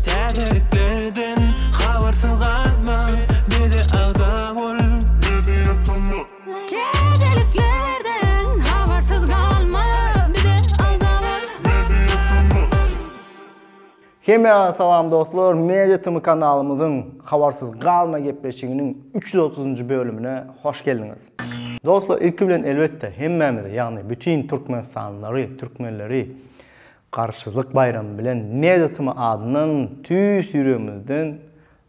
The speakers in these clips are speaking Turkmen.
Täzelikleden habarsyz galma, bize agza bol, bizi ýatama. Täzeliklerden habarsyz galma, bize agza bol, bizi ýatama. Hemä salam dostlar, Media Tm kanalymyzyň Habarsyz galma gepleşiginiň üç ýüz otuzynjy bölümine hoş geldiňiz. Dostlar ilki bilen elbetde hemmämizi ýagny bütin türkmenistanlylary, türkmenleri Garaşsyzlyk baýramy bilen Mediatm adyndan tüýs ýüregimizden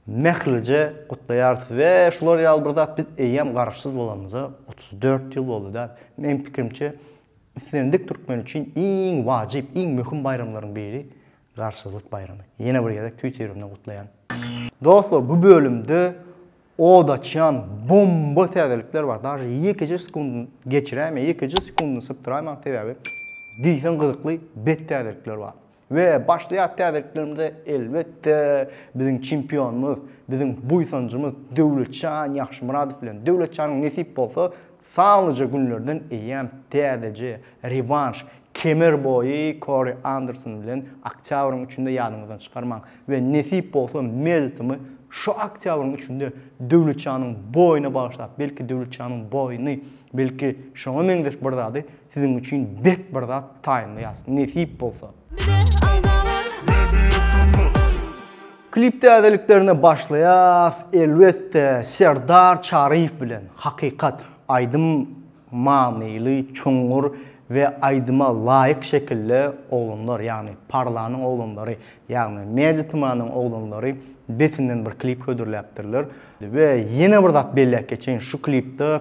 mählije gutlaýarys we şular ýaly bir zat biz eýýäm Garaşsyz bolanymyza otuz dört ýyl boldy däl. Meň pikirimçe islendik türkmen üçin iň wajyp, iň möhüm baýramlaryň biri Garaşsyzlyk baýramy. Ýene bir gezek tüýs ýüregimden gutlaýan. Dostlar bu bölümde Od açýan bomba täzelikler bar. Daže ýekeje sekundyny geçiräýmän, ýekeje sekundyny sypdyraýmaň sebäbi diýseň gyzykly bet täzelikler bar. We başlaýas täzeliklerimize elbetde biziň çempionymyz, biziň buýsanjymyz Döwletjan Ýagşymyradow bilen. Döwletjanyň nesip bolsa Sanlyja günlerden eýýäm täzeje rewanş kemer boýy Kori Anderson bilen oktýabryň üçünde ýadyňyzdan çykarmaň we nesip bolsa Meltomy şu oktýabryň üçünde Döwletjanyň boýuna bagyşlap, belki Döwletjanyň boýuny, belki şoňa meňzeş bir zady siziň üçin bet bir zat taýynlaýas nesip bolsa. Klip täzeliklerine başlaýas elbetde Serdar Çaryýew bilen Hakykat aýdym manyly çuňňur we aýdyma laýyk şekilde oglanlar ýagny Parlanyň oglanlary ýagny Media Tmanyň oglanlary betinden bir klip hödürläpdirler we ýene bir zat belläp geçeýin şu klipde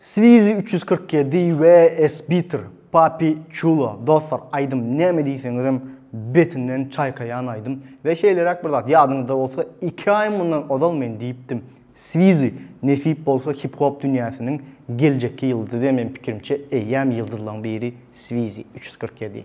Swizi üç ýüz kyrk ýedi we Esbiter, Papi Chulo, dostlar aýdym näme diýseňizem betinden çaýkaýan aýdym we şeýleräk bir zat ýadyňyzda bolsa iki aý mundan ozal men diýipdim Swizi nesip bolsa hip hop dünýäsiniň geljekki ýyldyzy we men pikirimçe eýýäm ýyldyzlaň biri Swizi üç ýüz kyrk ýedi.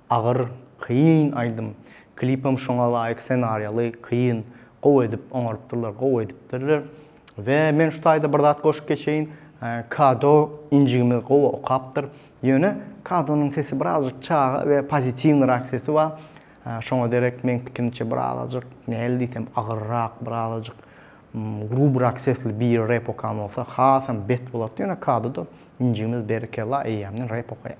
Agyr, kyn aýdym. Klipem şoňa laýyk senariýaly, kyn. Gowy edip oňarypdyrlar, gowy edipdirler. We men şu taýda bir zat goşup geçeýin. Kado injigimiz gowy okapdyr. Ýöne Kadonyň sesi birazjyk çaga we pozitiwnyrak sesi bar. Şoňa derek meň pikirimçe birazajyk näle diýsem agyrrak, birazajyk grubrak sesli biri rep okan bolsa hasam bet bolardy. Ýöne Kadoda injigimiz berekella eýýämden rep okaýar.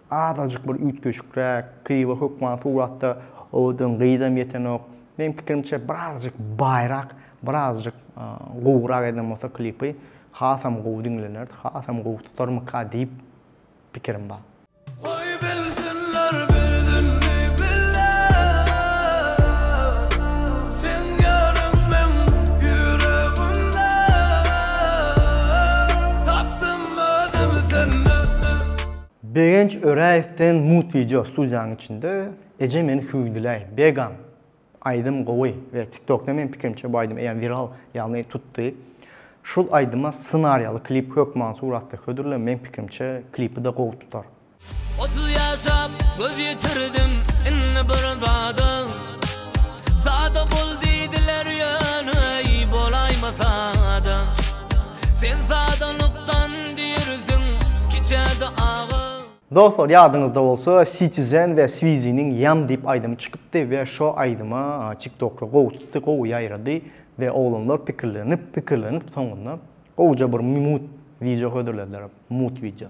Azajyk bir üýtgeşikräk, kriwo hökman suratda owadan gyzam ýetenok. Meň pikirimçe birazjyk baýrak, birazjyk gowurak eden bolsa klipy hasam gowy diňlenerdi, hasam gowy tutarmyka diýip pikirim bar. Goý bilsinler bir dilli bile Seň ýaryň meň ýüregimde Tapdym özümi sende. Begenç Öräýewden mut wideo studiýaň içinde Eje meni hüwdüläý, Begam! Aýdym gowy we TikTokda meň pikirimçe bu aýdym eýýäm wiral, ýagny tutdy. Şul aýdyma ssenariýaly klip hökman suratda hödürle, meň pikirimçe klipi-de gowy tutar. Otuz ýaşap göz ýitirdim indi bir zada. Sada bol diýdiler ýöneý bolaýma sada Sen sadalykdan diýrsiň kiçäde aga. Dostlar ýadyňyzda bolsa Citizen we Swiziniň Ýan diýip aýdymy çykypdy we şo aýdyma tiktokda gowy tutdy gowy ýaýrady we oglanlar pikirlenip pikirlenip soňunda gowja bir mut wideo hödürlediler mut wideo.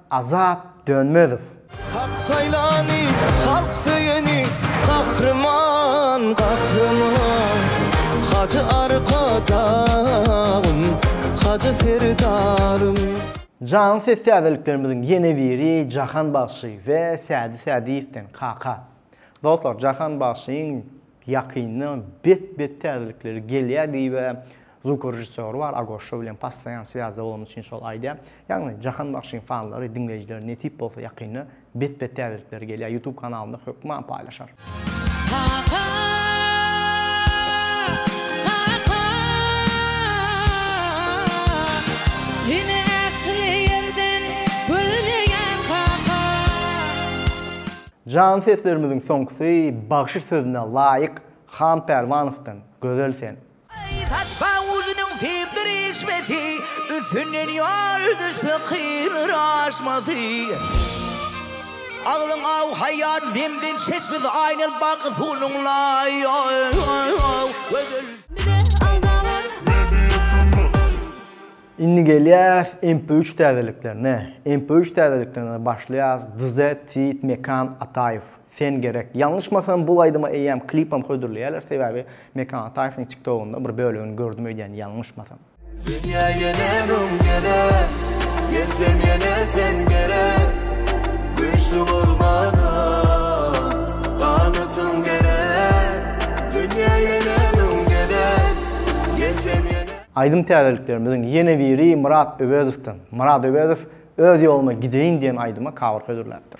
Azat Dönmezow. Hak saýlany, halk söýeni, Gahryman, Gahryman. Hajy Arkadagym, Hajy Serdarym. Janly ses täzeliklerimiziň ýene biri Jahan bagşy we Sädi Sädiýewden, Kaka. Dostlar, Jahan bagşyň ýakynda bet-bet täzelikleri gelýär diýibä Zvukorežissýory bar, Agoşşo bilen possaýan swýazda bolany üçin şol aýdýar. Ýagny Jahan bagşyň fanlary, diňleýjileri nesip bolsa ýakynda bet bet täzelikleri gelýär. Ýutub kanalynda hökman paýlaşar. Kaka kaka Seni ähli ýerden gözleýän kaka. Jan seslerimiziň soňkusy bagşy sözüne laýyk Han Pälwanowdan Gözel sen. Saçma uzynyň sebdir eşmesi, Üstünden ýol düşse kynr aşmasy. Agzyň aw haýýar zemzem çeşmesi, Aýnan baky suwnuň laý gözel. Indi gelýäs MP üç täzeliklerine. MP üç täzeliklerine başlaýas, Dz, Tweet, Mekan, Ataýew. Sen gerek. Ýalňyşmasam bul aýdyma eýýäm klipem hödürleýäler sebäbi Mekan Ataýewiň tik togunda bir bölegini gördüm öýdýän ýalňyşmasam. Dünýä ýene ruň gezer, Gelsem ýene sen gerek, Güýçli bolmana ganytyň gerek, Dünýä ýene ruň gezer, Gelsem ýene. Aýdym täzeliklerimiziň ýene biri Myrat Öwezowdan. Myrat Öwezow Öz ýoluma gideýin diýen aýdyma cover hödürläpdir.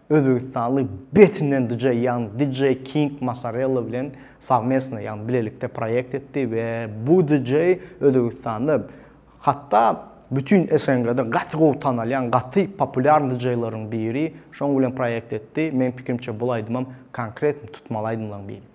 Özbegistanly betinden DJ ýagny DJ King Masarella bilen sowmestno ýagny bilelikde proýekt etdi we bu DJ Özbegistanda hatda bütin SNG-de gaty gowy tanalýan gaty populýarn DJ-laryň biri şoň bilen proýekt etdi, meň pikrimçe bul aýdymam konkretn tutmaly aýdymlaň biri.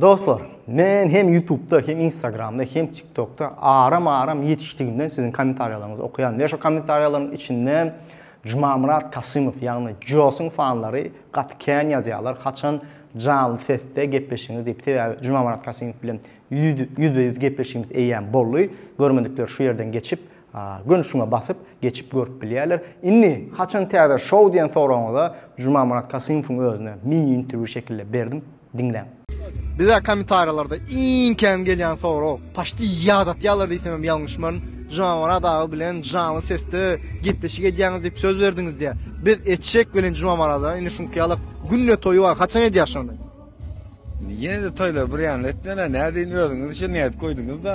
Dostlar, men hem Ýutubda, hem Instagramda, hem TikTokda aram-aram ýetişdigimden siziň kommentariýalaryňyzy okaýan we şo kommentariýalaryň içinde Jumamyrat Kasymow, ýagny Josyň fanlary gaty kän ýazýarlar, haçan janly sesde gepleşiňiz diýip, sebäbi Jumamyrat Kasymow bilen ýüzbe-ýüz gepleşigimiz eýýäm boldy. Görmedikler şu ýerden geçip, gönüşüňe basyp, geçip görüp bilýärler. Indi haçan täze şou diýen soragyňyza Jumamyrat Kasymowyň özüne mini-interwýu şekilde berdim. Diňläň. Bizä komentariýalarda iň kän gelýän sorag, paşdi ýad atýarlar diýsemem ýalňyşmaryn, Jumamyrat aga bilen janly sesde gepleşik edýäňiz diýip söz berdiňiz diýýär. Biz etjek welin Jumamyrada indi şuňky ýalak günde toýy bar, haçan edýär şony? Ýene-de toýlary bir ýanly etmeli, nädeýin özüňiz üçin nädip goýduňyz-da.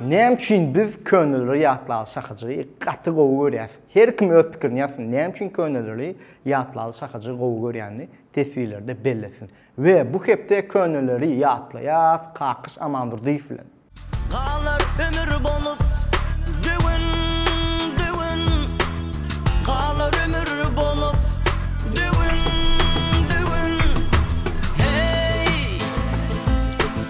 Näme üçin biz köneleri ýatlaly şahajygy gaty gowy görýäs? Her kim öz pikirini ýazsyn, näme üçin köneleri ýatlaly şahajygy gowy görýänini teswirlerde bellesin. We bu hepde köneleri ýatlaýas Kakyş Amandurdyýew bilen. Galar ömür bolup döwün, döwün, Galar ömür bolup döwün, döwün, heý.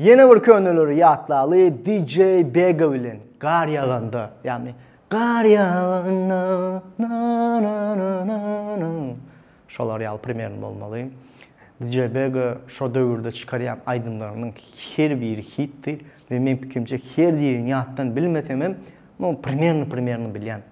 Ýene bir köneleri ýatlaly DJ Bega bilen gar ýaganda, ýagny gar ýaganda na na na na na şolar ýaly primerno bolmaly. DJ Bega şo döwürde çykarýan aýdymlarynyň her biri hitdi we men pikrimçe her birini ýatdan bilmesem hem, no primerno primerno bilýän.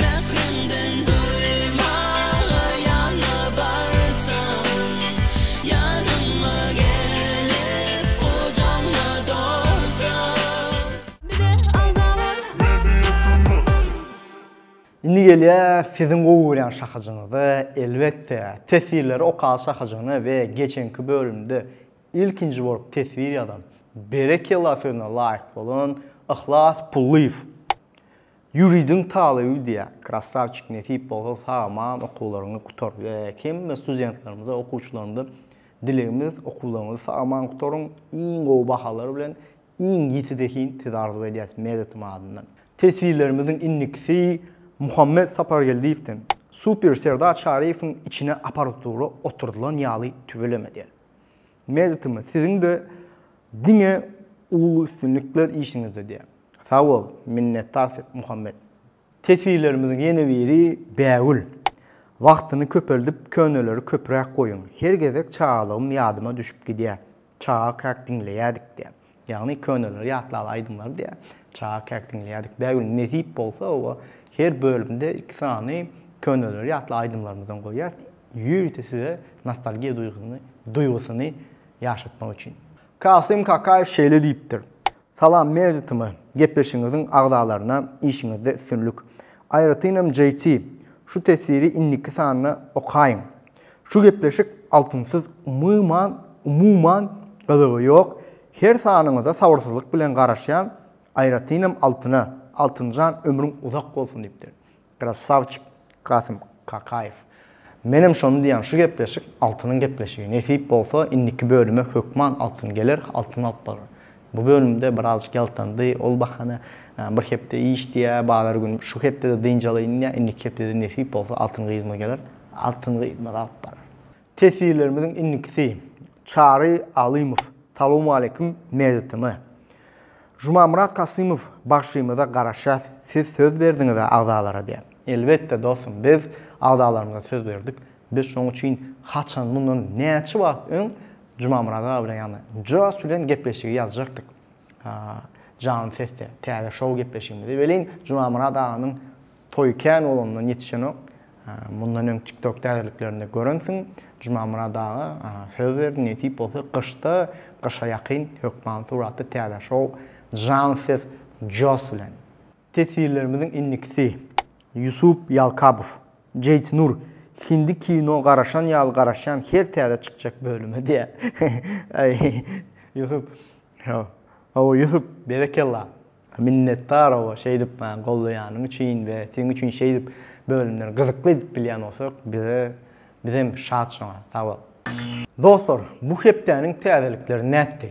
Mähriňden doýmaga ýalbarsam, Ýanyma gelip, gujagyma dolsaň. Bize alda bar. Indi gelýäs siziň gowy görýän şahajyňyza, elbetde, teswirleri okaly şahajygyna we geçenki bölümde ilkinji bolup teswir ýazan, berekella sözüne laýyk bolan Yhlas Pullyýew. Ýuridiň talyby diýä krassawçik nesip bolsa sag aman okuwlaryňy gutar we hemme studentlerimize okuwçylarymyza dilegimiz okuwlaryňyzy sag aman gutaryň iň gowy bahalar bilen iň ýiti zehin size arzuw edýäs medetim adyndan. Teswirlerimiziň indikisi Muhammet Sapargeldiýewden super Serdar Çaryýewiň içine aparatula oturdylan ýaly tüweleme der. Mezitim siziňde diňe uly üstünlikler işiňizde diýýän. Sagbol, minnetdar Sep Muhammet. Teswirlerimiziň ýene biri bägül. Wagtyny köpeldip köneleri köpräk goýuň. Her gezek çagalygym ýadyma düşüp gidýär. Çaga käk diňleýädik diýýär. Ýagny köneleri ýatlaly aýdymlary diýýär. Çaga käk diňleýärdik. Bägül nesip bolsa oba her bölümde iki sany köneleri ýatla aýdymlarymyzdan goýýas. Ýörite size nostalgiýa duýgyny duýgusyny ýaşatmak üçin. Kasym Kakaýew şeýle diýipdir, Salam Media TM gepleşigiňiziň agzalaryna işiňizde üstünlik. Aýratynam JT şu teswiri indiki sanda okaýyň. Şu gepleşik altynsyz umyman umuman gyzygy ýok her sanyňyza sabyrsyzlyk bilen garaşýan aýratynam altyna altynjan ömrüň uzak bolsun diýipdir krassawçik kasym kakaýew menem şony diýýän şu gepleşik altynyň gepleşigi nesip bolsa indiki bölüme hökman altyn geler altyn alyp barar Bu bölümde birazjyk ýaltandy, ol bahana bir hepde iş diýä, bazar gün şu hepdede dynç alaýyn diýä, indiki hepdede nesip bolsa Altyn gyzymyz geler, Altyn gyzymyz alyp barar. Teswirlerimiziň indikisi, Çary Alymow, Salowmaleýkim Mejitimi. Jumamyrat Kasymow, Bagşymyza garaşýas, siz söz berdiňiz-ä agzalara diýä. Elbetde dostum, biz agzalarymyza söz berdik, Biz şoň üçin haçan, mundan näçe wagt öň Jumamyrat aga bilen, ýagny Joss bilen gepleşigi ýazjakdyk. Janly sesde, täze şou gepleşigimizi. Welin, Jumamyrat aganyň toýy kän bolanyndan ýetişenok. Mundan öň TikTok täzeliklerinde görensiň, Jumamyrat aga söz berdi, nesip bolsa gyşda, gyşa ýakyn hökman suratda täze şou, janly ses Joss bilen. Teswirlerimiziň indikisi Ýusup Ýalkabow, Jeýt Nur, Hindi kino garaşan ýaly garaşýan her täze çykjak bölüme diýýär. Ýusup. Hawa Ýusup. Berekella. Minnetdar hawa şeýdip maňa gollaýanyň üçin we seň üçin şeýdip bölümleri gyzykly edip bilýän bolsak bize bizem şat şoňa. Sag bol. Dostlar bu hepdäniň täzelikleri nätdi?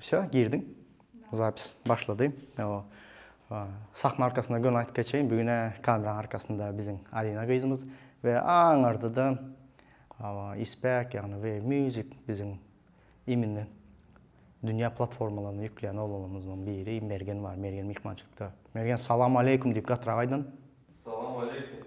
Şo, girdiň. Zapis başlady. O sahna arkasyna göni aýdyp geçeýin. Bu güne kameraň arkasynda biziň Alina gyzymyz we aňarda-da Isbek, ýagny we Music biziň immini dünýä platformalaryna ýükleýän oglanlarymyzdan biri Mergen bar. Mergen myhmançylykda. Mergen, salam aleýkum diýip gatrak aýdan. Salam aleýkum.